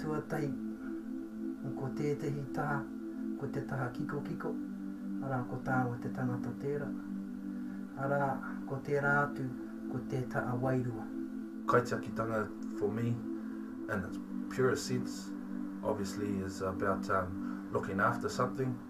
Tuatahi, ko tētehi taha, ko te taha kikokiko, arā, ko tāua te tangata tērā, arā, ko tērā atu, ko te taha wairua. Kaitakitanga for me in its purest sense obviously is about looking after something.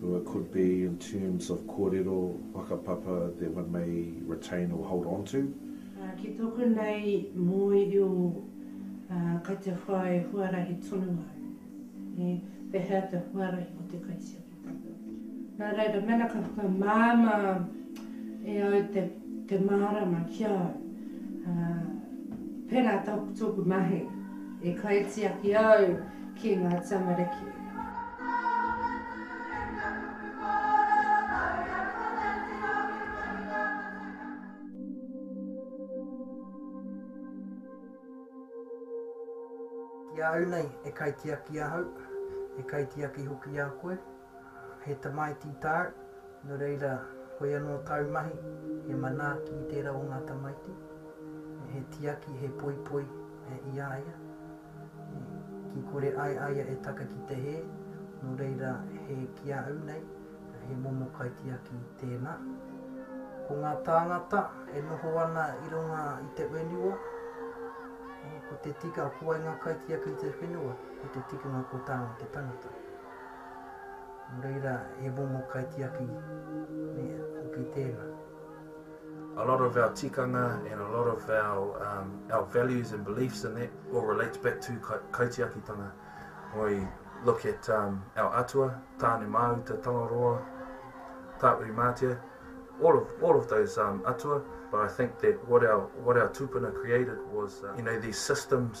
Well, it could be in terms of kōrero, whakapapa that one may retain or hold on to. Ki tōku nei mōirio, kei te whai huarahi tonu au. Pehea te huarahi o te kaitiakitanga? Nā reira, mēnā ka whakamāmā e au te mārama ki a au, pērā tōku mahi e kaitiaki au, ki ngā tamariki. Ki a au nei, e kaitiaki ahau, e kaitiaki hoki a koe, he tamaiti tāu, nō reira, koe anō tāu mahi, he manaaki i tērā o ngā tamaiti, he tiaki, he poipoi i a ia. Ki kore ai a ia e taka ki te hē, nō reira he ki a au nei, he momo kaitiaki tēnā. Ko ngā tāngata e noho ana i runga i te whenua, ko te tika, ko wai ngā kaitiaki i te whenua, ko te tikanga ko tāna te tangata. Nō reira he momo kaitiaki hoki tēnā. a lot of our tikanga and a lot of our um, our values and beliefs in that all relates back to ka kaitiakitanga. We look at um, our atua, Tāne Māuta, Tangaroa, Tāuri Mātea, all of all of those um, atua. But I think that what our what our tupuna created was uh, you know these systems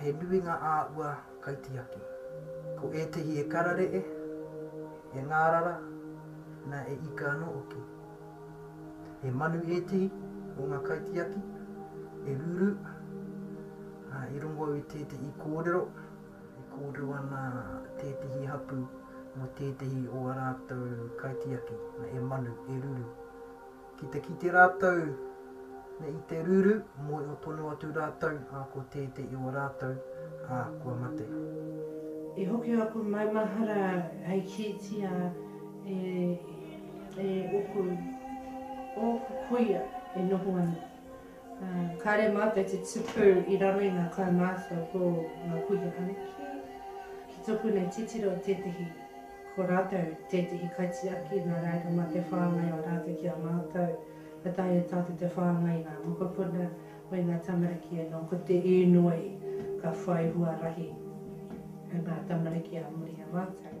He nui ngā āhua kaitiaki. Ko ētehi e kararee, e ngārara, na e ika anō hoki. He manu ētehi o ngā kaitiaki e ruru, ā, i rongo au i tētehi kōrero e kōrero ana tētehi hapū mō tētehi o a rātou kaitiaki, na e manu, e ruru. Ki te kite rātou nei i te ruru, mōhio tonu atu rātou, ā, ko tētei i o rātou, ā, kua mate. I hoki a koe maumahara hei kītia e, e ōku, ōku kuia e noho ana, ā, kāre mātou te tupu i raro i ngā kaumātua ko ngā kuia anake, ki tōku nei titiro tētehi Ko rātou tētehi kaitiaki nā reira mā te whāngai o rātou ki a mātou. Ka taea e tātou te whāngai i ngā mokopuna me ngā tamariki anō. Ko te īnoi ka whai huarahi e ngā tamariki ā muri i a mātou.